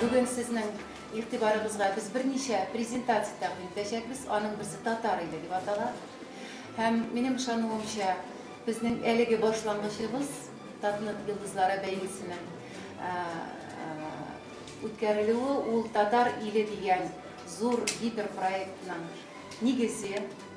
Бүген сезнең игътибарыгызга без берничә презентация тәкъдим итәчәкбез. Аның берсе татар иле дип атала. Һәм минем ышануымча, безнең әлеге башлангычыбыз Татнет йолдызлары бәйгесенең үткәрелүе ул татар иле дигән зур гиперпроектның нигезе,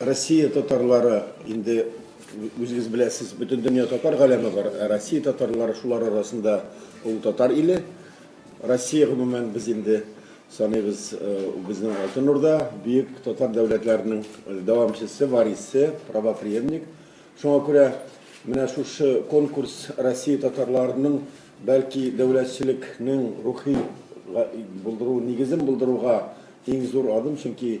Россия татарлары инде үзегез беләсез, бөтен дөнья татар галәме бар. Ә Россия татарлары шулар арасында ул татар иле. Россия гомумән без инде саныйбыз э, безнең Алтын Урда, бөек татар дәүләтләренең э, дәвамчысы, варисы, правопреемник. Шуңа күрә менә шушы конкурс Россия татарларының бәлки дәүләтчелекнең рухи булдыру нигезен булдыруга иң зур адым, чөнки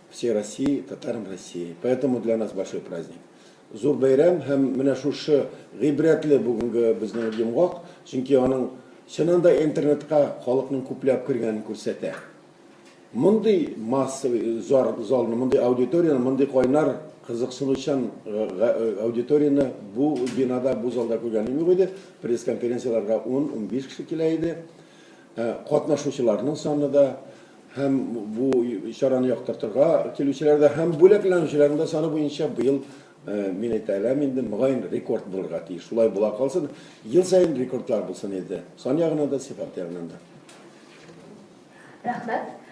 Все России, татарам России, поэтому для нас большой праздник. Зур бәйрәм һәм менә шушы гыйбрәтле бүгенге безнең йомгак, чөнки аның чыннан да интернетка халыкның күпләп кергәнен күрсәтә. Мондый массовый зар, залны, мондый аудиторияне, мондый кайнар кызыксынучан э, э, аудиторияне бу бинада, бу залда күргәнем юк иде. Пресс-конференцияләргә 10-15 кеше килә иде. Катнашучыларның саны да һәм бу чараны яктыртырга килүчеләр дә һәм бүләкләнүчеләрнең дә саны буенча быел мин әйтә алам инде, мөгаен, рекорд булырга тиеш. Шулай була калсын, ел саен рекордлар булсын инде, сан ягыннан да, сыйфат ягыннан да. Рәхмәт.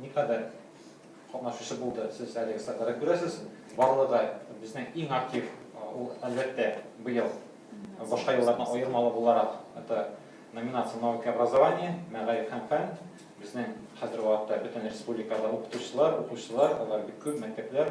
Никадәр катнашучы булды, сез әлеге статьяда күрәсез. Барлыгы да безнең иң актив, ул, әлбәттә, быел башка еллардан аермалы буларак, это номинация «Наука и образование», мәгариф һәм фән. Безнең хәзерге вакытта бөтен республикада укытучылар, укучылар, алар бик күп, мәктәпләр.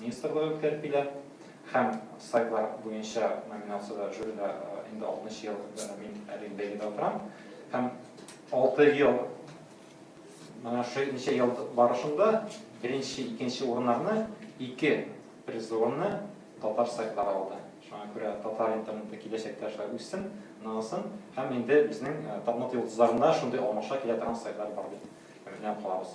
министрлыгы үткәрпилә һәм сайтлар буенча номинациядә жюрида инде 60 ел мин әле бәйгедә утырам һәм 6 ел менә шул ничә ел барышында беренче икенче урыннарны ике призорны татар сайтлары алды шуңа күрә татар интернеты киләчәктә шулай үссен ныгысын һәм инде безнең тапмат йолдызларында шундый алмаша килә торган сайтлар бар дип ышанып калабыз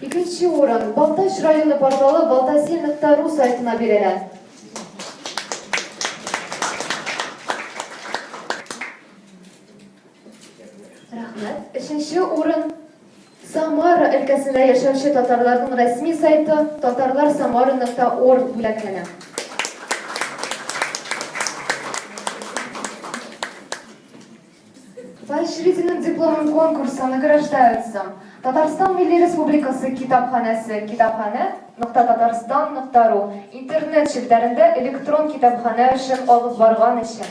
Икенче урын Балтач районы порталы Балтаси нокта ру сайтына бирелә. Рәхмәт. Өченче урын Самара өлкәсендә яшәүче татарларның рәсми сайты татарлар самара нокта орг бүләкләнә. Поощрительный дипломын конкурсы награждаются Татарстан Милли Республикасы китапханәсе китапханә нокта татарстан нокта ру интернет челтәрендә электрон китапханә эшен алып барган өчен.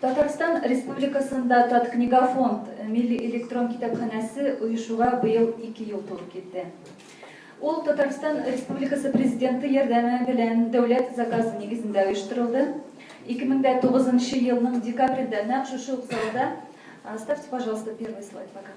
Татарстан Республикасында Таткнигофонд милли электрон китапханәсе оешуга быел ике ел туры килде. Ул Татарстан Республикасы Президенты ярдәме белән дәүләт заказы нигезендә оештырылды. 2009 елның декабрендә нәкъ шушы ук залда, ставьте, пожалуйста, первый слайд пока.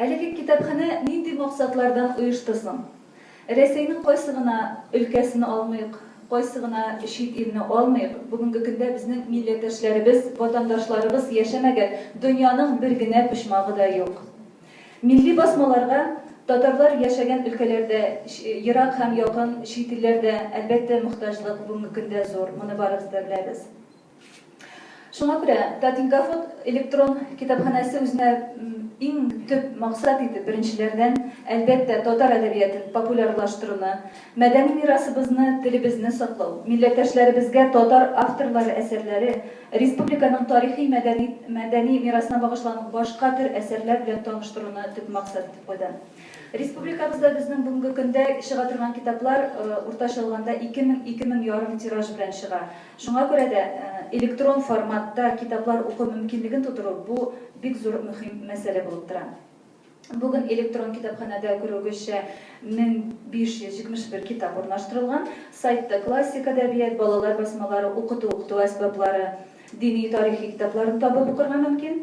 Әлеге китапханә нинди максатлардан оешты соң? Рәсәйнең кайсы гына өлкәсен алмыйк, кайсы гына чит илне алмыйк, бүгенге көндә безнең милләттәшләребез, ватандашларыбыз яшәмәгән дөньяның бер генә почмагы да юк. Милли басмаларга татарлар яшәгән өлкәләр дә, ерак һәм якын чит илләр дә, әлбәттә, мохтаҗлык бүгенге көндә зур, моны барыбыз да беләбез. Шуңа күрә Татинкафот электрон китапханәсе үзенә иң төп максат итеп, беренчеләрдән, әлбәттә, татар әдәбиятын популярлаштыруны, мәдәни мирасыбызны, телебезне саклау, милләттәшләребезгә татар авторлары әсәрләре, республиканың тарихи-мәдәни мәдәни мирасына багышланган башка төр әсәрләр белән таныштыруны төп максат итеп куйды. Республикабызда безнең бүгенге көндә чыга торган китаплар, уртача алганда, ике мең, ике мең ярым тираж белән чыга. Шуңа күрә дә электрон форматта китаплар уку мөмкинлеген тудыру бу бик зур мөһим мәсьәлә булып тора. Бүген электрон китапханәдә күрүегезчә 1571 китап урнаштырылган. Сайтта классик әдәбият, балалар басмалары, укыту-укыту әсбаплары, дини-тарихи китапларын табып укырга мөмкин.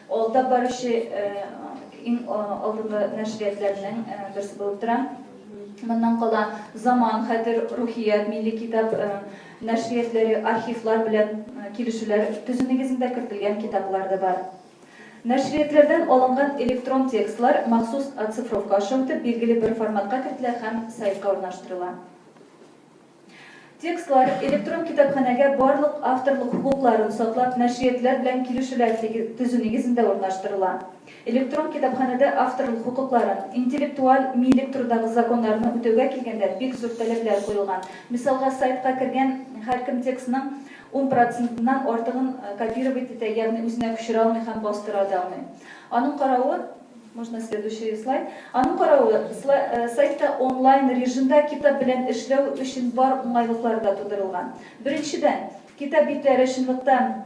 Алда баручы иң алдынгы нәшриятләрнең берсе булып тора. Моннан кала Заман, Хәтер, Рухият, Милли китап нәшриятләре архивлар белән килешүләр төзү нигезендә кертелгән китаплар да бар. Нәшриятләрдән алынган электрон текстлар махсус оцифровка аша үтеп, билгеле бер форматка кертелә һәм сайтка урнаштырыла. Текстлар электрон китапханәгә барлык авторлык хокукларын саклап нәшриятлар белән килешүләр төзү нигезендә урнаштырыла. Электрон китапханәдә авторлык хокукларын, интеллектуаль милек турындагы законнарны үтәүгә килгәндә, бик зур таләпләр куелган. Мисалга, сайтка кергән һәркем текстның ун процентыннан артыгын копировать итә, ягъни үзенә күчерә алмый һәм бастыра да алмый. Аның каравы, Можно следующий слайд. Аның каравы, сайтта онлайн режимда китап белән эшләү өчен бар уңайлыклар да тудырылган. Беренчедән, китап битләре чынлыкта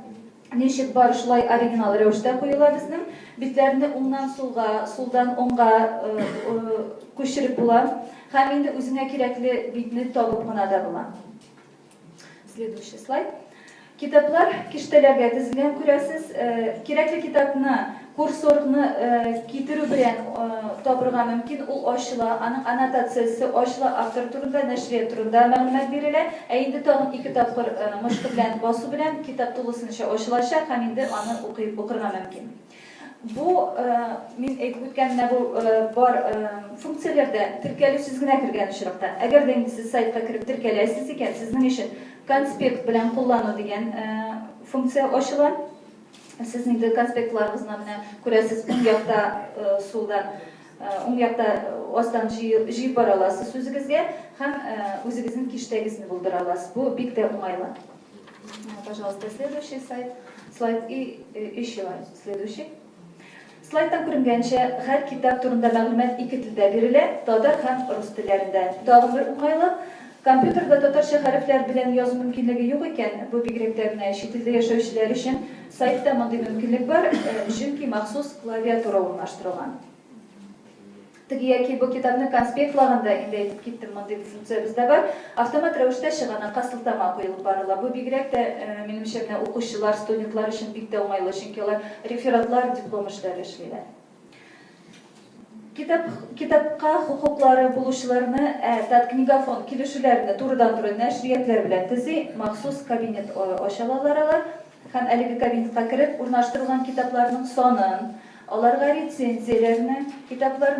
ничек бар, шулай оригинал рәвештә куела безнең. Битләрне уңнан сулга, сулдан уңга күчереп була һәм инде үзеңә кирәкле битне табып кына да була. Следующий слайд. Китаплар киштәләргә тезелгән, күрәсез. Кирәкле китапны, курсорны китерү белән табырга мөмкин. Ул ачыла, аның аннотациясе ачыла, автор турында, нәшрият турында мәгълүмат бирелә. Ә инде тагын ике тапкыр мышкы белән басу белән китап тулысынча ачылачак һәм инде аны укырга мөмкин. Бу, мин әйтеп үткәнемә бу бар функцияләрдә теркәлү сез генә кергән очракта. Әгәр дә инде сез сайтка кереп теркәләсез икән, сезнең өчен конспект белән куллану дигән функция ачыла. Сез инде конспектларыгызны менә күрәсез, уң якта сулда, уң якта астан җыеп бара аласыз үзегезгә һәм үзегезнең киштәгезне булдыра аласыз. Бу бик тә уңайлы. Пожалуйста, следующий сайт. Слайд и э, еще следующий. Слайдтан күренгәнчә, һәр китап турында мәгълүмат ике телдә бирелә, татар һәм рус телләрендә. Тагын бер уңайлы, компьютерда татарча хәрефләр белән язу мөмкинлеге юк икән, бу бигрәк тә менә чит илдә яшәүчеләр өчен сайтта мондый мөмкинлек бар, э, чөнки махсус клавиатура урнаштырылган. Теге яки бу китапны конспектлаганда инде әйтеп киттем, мондый бер функция бездә бар. Автомат рәвештә чыганакка сылтама куелып барыла. Бу бигрәк тә, минемчә, менә укучылар, студентлар өчен бик тә уңайлы, чөнки алар рефератлар, диплом эшләре эшлиләр. Китап, китапка хокуклары булучыларны, ә Таткнигофонд килешүләрне турыдан-туры нәшриятләр белән төзи, махсус кабинет ачалалар алар. һәм әлеге кабинетка кереп урнаштырылган китапларның санын, аларга рецензияләрне, китаплар,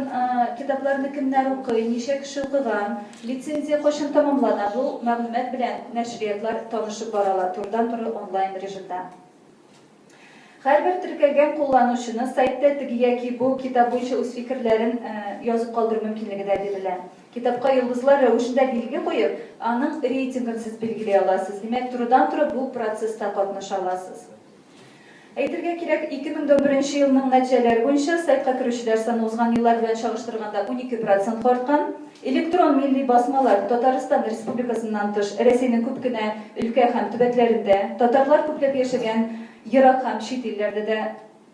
китапларны кемнәр укый, ничә кеше укыган, лицензия кайчан тәмамлана, бу мәгълүмат белән нәшриятлар танышып бара ала турыдан-туры онлайн режимда. Һәрбер теркәлгән кулланучыны сайтта теге яки бу китап буенча үз фикерләрен язып калдыру мөмкинлеге дә бирелә. Китапка йолдызлар рәвешендә билге куеп, аның рейтингын сез билгели аласыз. Димәк, турыдан-туры бу процесста катнаша аласыз. Әйтергә кирәк, 2011 нче елның нәтиҗәләре буенча сайтка керүчеләр саны узган еллар белән чагыштырганда унике процентка арткан. Электрон милли басмалар Татарстан Республикасыннан тыш, Рәсәйнең күп кенә өлкә һәм төбәкләрендә, татарлар күпләп яшәгән ерак һәм чит илләрдә дә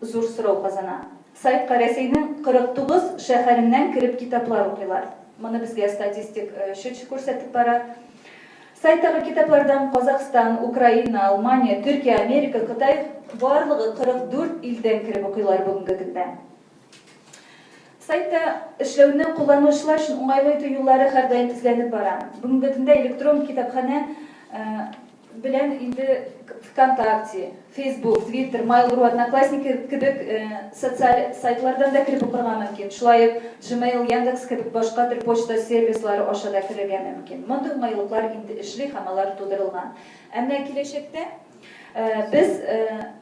Зур сорау казана. Сайтка Рәсәйнең 49 шәһәреннән кереп китаплар укыйлар. Моны безгә статистик чөч күрсәтеп бара. Сайттагы китаплардан Казакъстан, Украина, Алмания, Төркия, Америка, Кытай, барлыгы 44 илдән кереп укыйлар бүгенге көндә. Сайтта эшләүне кулланучылар өчен уңайлы итү юллары һәрдаим эзләнеп бара. Бүгенге көндә электрон китапханә белән инде Вконтакте, Фейсбук, Твиттер, Mail.ru, Одноклассники кебек социаль сайтлардан да кереп укырга мөмкин. Шулай ук Gmail, Яндекс кебек башка төр почта сервислары аша да керергә мөмкин. Мондый уңайлыклар инде эшли һәм алар тудырылган. Әмма киләчәктә без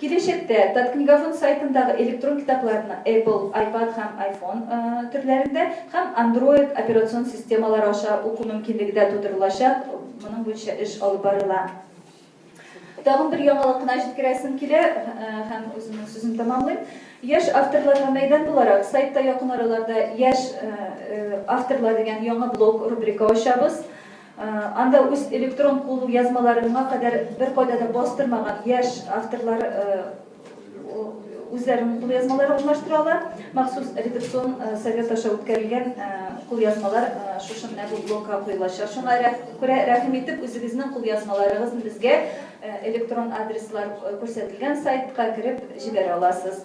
Киләчәктә Таткнигофонд сайтындагы электрон китапларны Apple, iPad һәм iPhone төрләрендә һәм Android операцион системалары аша уку мөмкинлеге дә тудырылачак, моның буенча эш алып барыла. Тагын бер яңалык кына җиткерәсем килә һәм үземнең сүземне тәмамлыйм. Яшь авторларга мәйдан буларак, сайтта якын араларда Яшь авторлар дигән яңа блог рубрика ачабыз. Анда үз электрон кул язмаларын моңа кадәр беркайда да бастырмаган яшь авторлар үзләренең кул язмаларын урнаштыра ала. Махсус редакцион совет аша үткәрелгән кул язмалар шушы менә бу блокка куелачак. Шуңа күрә рәхим итеп үзегезнең кул язмаларыгызны безгә электрон адреслар күрсәтелгән сайтка кереп җибәрә аласыз.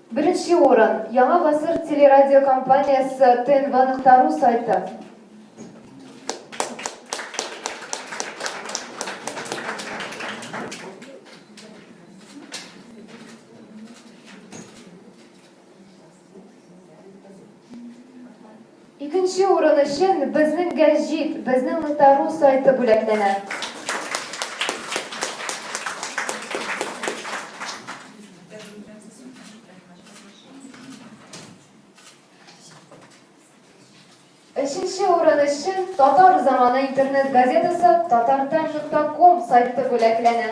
Беренче урын, Яңа Гасыр телерадиокомпаниясе тнв нокта ру сайты. Икенче урын өчен безнең гәҗит, безнең нта-ру сайты бүләкләнә. Өченче урын өчен Татар заманы интернет газетасы Татартайм нокта ком сайты бүләкләнә.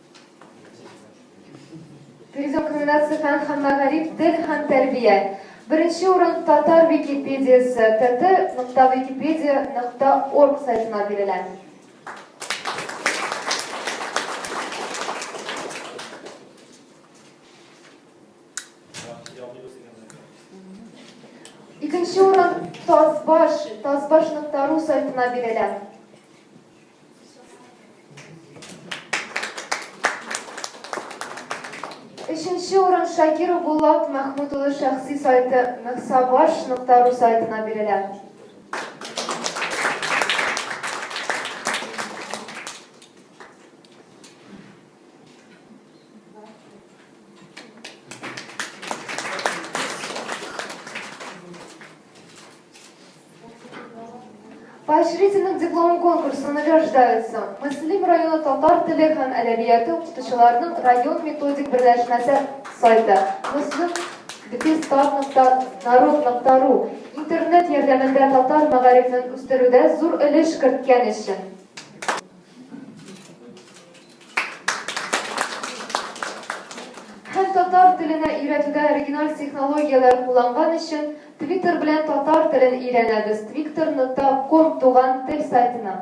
Тегезләү комбинация фән һәм мәгариф, тел һәм тәрбия. Беренче урын татар википедиясы, tt.wikipedia.org сайтына бирелә. Икенче урын тазбаш, тазбаш.ру сайтына бирелә. Өченче урын Шакиру Булат Мәхмүт улы шәхси сайты мөхсабаш.ру сайтына бирелә. Поощрительным диплом конкурсы награждаются Муслим районы татар теле һәм әдәбияты укытучыларының район методик берләшмәсе сайты Муслим Бетестат.народ.ру интернет ярдәмендә татар мәгарифен үстерүдә зур өлеш керткән өчен. Һәм татар теленә өйрәтүдә оригиналь технологияләр кулланган өчен Twitter белән татар телен өйрәнәбез, Twitter нокта ком туган тел сайтына.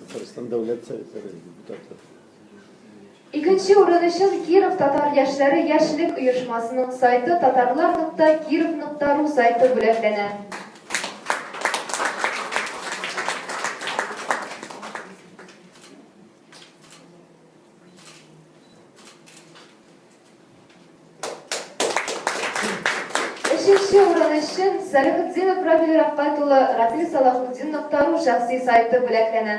Татарстан Дәүләт Советы депутаты. Икенче урын өчен Киров татар яшьләре яшьлек оешмасының сайты татарлар нокта киров нокта ру сайты бүләкләнә. Өченче урын өчен Сәләхетдинов Равил Рафкат улы Равил Салахутдин Ноктару шәхси сайты бүләкләнә.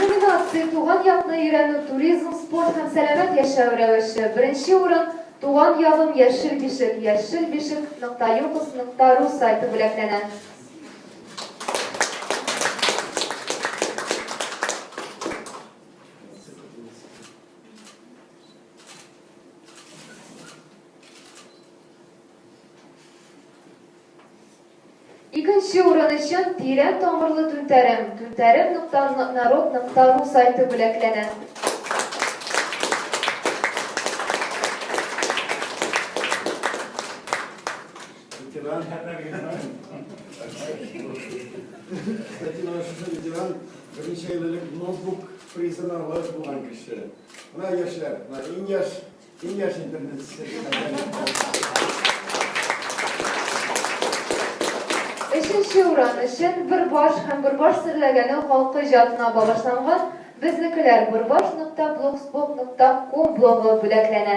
Номинация Туган якны өйрәнү, туризм, спорт һәм сәламәт яшәү рәвеше. Беренче урын Туган ягым яшел бишек, яшел бишек нокта юкус нокта ру сайты бүләкләнә. Икенче урын өчен Тирән тамырлы түнтәрем, түнтәрем нокта народ нокта ру сайты бүләкләнә. Ветеран һәр Статьяны шушы ветеран берничә ел элек ноутбук призына лаек булган кеше. Менә яшьләр, менә иң яшь Киңәш интернет Өченче урын өчен Бөрбаш һәм Бөрбаш серләгәне халкы иҗатына багышланган безнекеләр burbash.blogspot.com блогы бүләкләнә.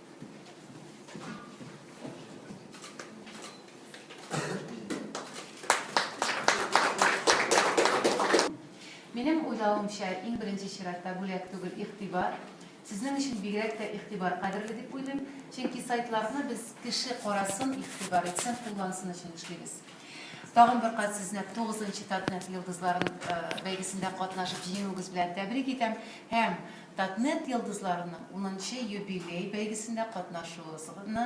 Минем уйлавымча, иң беренче чиратта бүләк түгел, игътибар. Сезнең өчен бигрәк тә игътибар кадерле дип уйлыйм, чөнки сайтларны без кеше карасын, игътибар итсен, куллансын өчен эшлибез. Тагын бер кат сезне 9 нчы Татнет йолдызларын бәйгесендә катнашып җиңүегез белән тәбрик итәм һәм Татнет йолдызларының унынчы юбилей бәйгесендә катнашуыгызны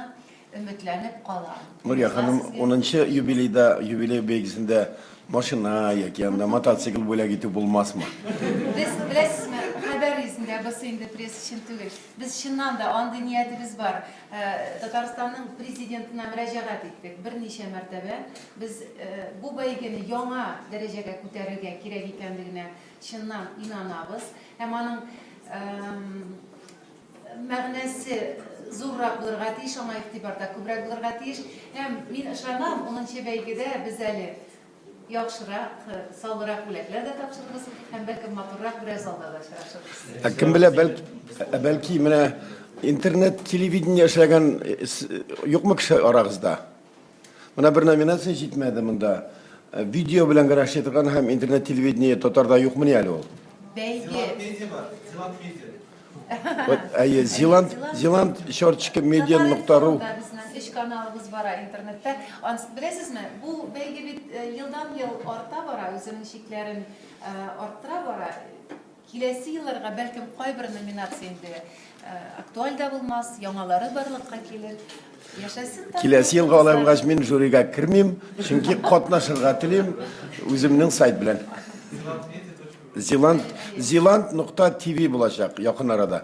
өметләнеп калам. Нурия ханым, унынчы юбилейда, юбилей бәйгесендә машина яки янда мотоцикл бүләк итү булмасмы? Без, беләсезме, хәбәр йөзендә, бусы инде пресс өчен түгел. Без чыннан да андый ниятебез бар. Татарстанның Президентына мөрәҗәгать иттек берничә мәртәбә. Без бу бәйгене яңа дәрәҗәгә күтәрергә кирәк икәнлегенә Чыннан инанабыз һәм аның мәгънәсе зуррак булырга тиеш, аңа игътибар да күбрәк булырга тиеш. Һәм мин ышанам, 10 бәйгедә без әле яхшырак, саллырак бүләкләр дә тапшырырбыз һәм бәлкем матуррак берәр залда да очрашырбыз. Ә кем белә, бәлки, бәлки менә интернет телевидение эшләгән юкмы кеше арагызда? Менә бер номинация җитмәде монда. Э, видео белән генә эшли торган һәм интернет телевидение татарда юкмыни әле ул? Бәйге. Вот, әйе, Зиланд, Зиланд черточка медиа нокта ру. Безнең өч каналыбыз бара интернетта. Анс, беләсезме, бу бәйге бит э, елдан-ел арта бара, үзенең чикләрен э, арттыра бара. Киләсе елларга, бәлкем, кайбер номинация инде актуаль да булмас, яңалары барлыкка килер. Яшәсен та. Киләсе елга алай булгач, мин жюрига кермим, чөнки катнашырга телим үземнең сайт белән. Zealand, zealand.tv булачак якын арада.